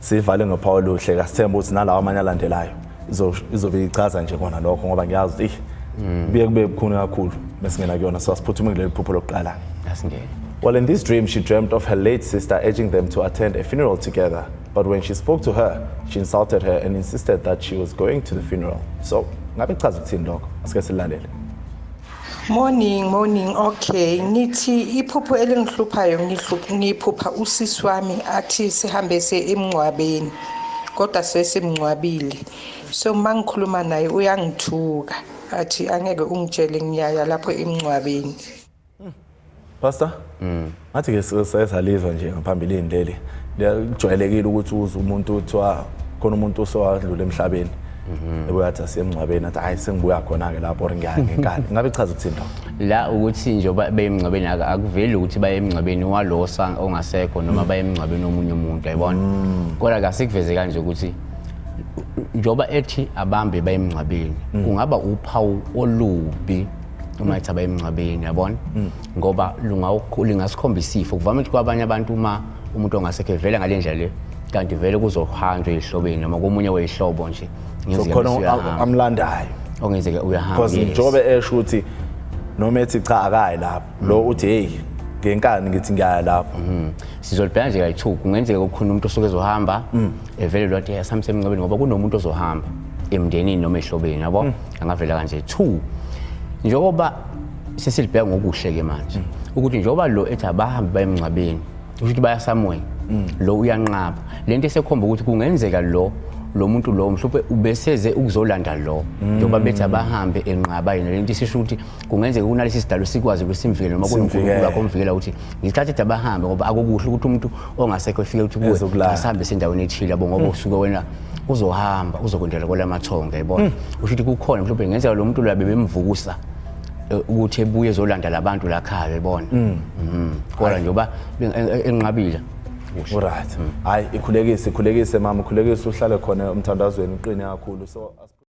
Sivale ngophawu oluhle kasithemba ukuthi nalawa amanye alandelayo izobe ichaza nje kona lokho ngoba ngiyazi ukuthi mm. kuye kube bukhuni kakhulu mesingena kuyona so asiphuthume kuleli phupho lokuqala. Asingene. Well, in this dream, she dreamt of her late sister urging them to attend a funeral together. But when she spoke to her, she insulted her and insisted that she was going to the funeral. So, ngabe chaza ukuthini lokho? Asike silalele. Morning, morning. Okay, ngithi iphupho elingihluphayo ngiphupha usisi wami athi sihambe se emngcwabeni kodwa sesimngcwabile. So mangikhuluma naye uyangithuka athi angeke ungitshele ngiyaya lapho emngcwabeni. Pastor? Mm. Ngathi ke sesalizwa nje ngaphambilini leli. Kujwayelekile ukuthi uze umuntu uthiwa khona umuntu osowadlula emhlabeni. Mhm. Ebuya athi asiyemngcwabeni athi hayi sengibuya khona ke lapho ngiyake ngenkani. Ngabe chaza ukuthini lapho? La ukuthi nje bayemngcwabeni akuveli ukuthi bayemngcwabeni walosa ongasekho noma mm. bayemngcwabeni omunye umuntu ayibona. Mm. Kodwa kasikuveze kanje ukuthi njoba ethi abambe bayemngcwabeni mm. kungaba uphawu olubi uma ethi abayemngcwabeni yabona mm. ngoba lingasikhombisa ifo kuvame ukuthi kwabanye abantu uma umuntu ongasekho evele ngale ndlela le kanti vele kuzohanjwa ezihlobeni noma komunye weyihlobo nje ngezikhona amlandayo ongenzeke uyahamba because njobe esho ukuthi noma ethi cha akayi lapho lo mm. uthi hey ngenkani ngithi ngiyaya lapho mm. sizolibheka nje kayi-two kungenzeka kukhona umuntu osuke ezohamba mm. evele lwathi asamsemncebeni ngoba kunomuntu ozohamba emndenini noma ehlobeni yabo mm. angavela kanje two njengoba sesilibheka ngokuhle ke manje mm. ukuthi njengoba lo ethi abahambe baye emngcwabeni usho ukuthi bayasamweni mm. lo uyanqaba le nto esekhomba ukuthi kungenzeka lo lo muntu lo mhlawumbe ubeseze ukuzolanda lo njengoba bethi abahambe enqaba yena le nto isisho ukuthi kungenzeka kunalesi sidalo sikwazi ukuthi simvikele noma kunonkulunkulu wakho omvikela ukuthi ngesikhathi ethi abahambe ngoba akukuhle ukuthi umuntu ongasekho efike ukuthi kuwe asihambe sendaweni ethile yabo ngoba hmm. usuke wena uzohamba uzokwendela kwala mathonga yabona hmm. usho ukuthi kukhona mhlawumbe ngenzeka lo muntu labe bemvukusa e, ukuthi ebuye ezolanda labantu lakhaya yabona hmm. mhm. kodwa nje uba e, e, enqabile right hayi ikhulekise ikhulekise mama ukhulekise uhlale khona umthandazweni uqine kakhulu so